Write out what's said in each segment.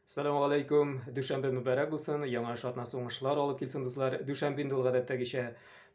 Салам алейкум, дүшәмбе мөбәрәк булсын, яңа эш атнасы уңышлар алып килсен, дуслар. Дүшәмбе инде ул гадәттәгечә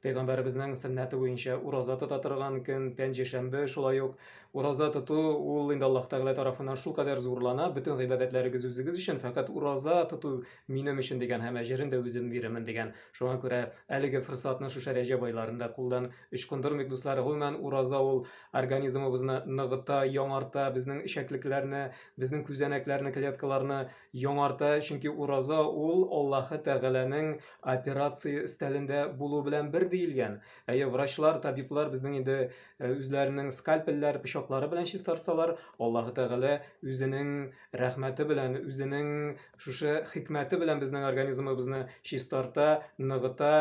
пәйгамбәребезнең сөннәте буенча ураза тота торган көн, пәнҗешәмбе шулай ук. Ураза тоту ул инде Аллаһ Тәгалә тарафыннан шулкадәр зурлана, бөтен гыйбадәтләрегез үзегез өчен, фәкать ураза тоту минем өчен дигән һәм әҗерен дә үзем бирермен дигән. Шуңа күрә әлеге форсатны шушы Рәҗәб айларында кулдан ычкындырмыйк, дуслар. Гомумән, ураза ул организмыбызны ныгыта, яңарта, безнең эчәклекләрне, безнең күзәнәкләрне клеткаларны яңарта чөнки ураза ул аллаһы тәгаләнең операция өстәлендә булу белән бер диелгән әйе врачлар табиблар безнең инде э, үзләренең скальпельләр пычаклары белән чистартсалар аллаһы тәгалә үзенең рәхмәте белән үзенең шушы хикмәте белән безнең организмыбызны чистарта ныгыта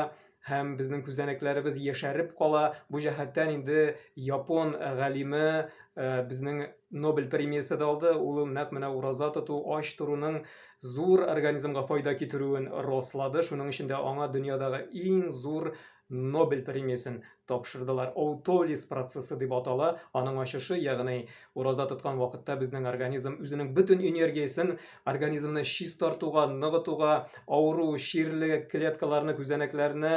һәм безнең күзәнәкләребез яшәреп кала. Бу җәһәттән инде япон галиме э, безнең Нобель премиясе дә алды. Ул нәкъ менә ураза тоту, ач торуның зур организмга файда китерүен раслады. Шуның өчен дә аңа дөньядагы иң зур Нобель премиясен тапшырдылар. Аутолиз процессы дип атала. Аның ачышы, ягъни Ураза тоткан вакытта безнең организм үзенең бөтен энергиясен организмны чистартуга, ныгытуга, авыру, чирле клеткаларны, күзәнәкләрне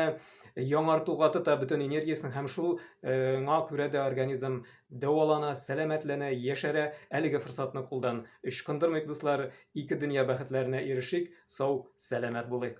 яңартуга тота бөтен энергиясен һәм шуңа күрә дә организм дәвалана, сәламәтләнә, яшәрә. Әлеге форсатны кулдан ычкындырмыйк, дуслар. Ике дөнья бәхетләренә ирешик, сау, сәламәт булыйк.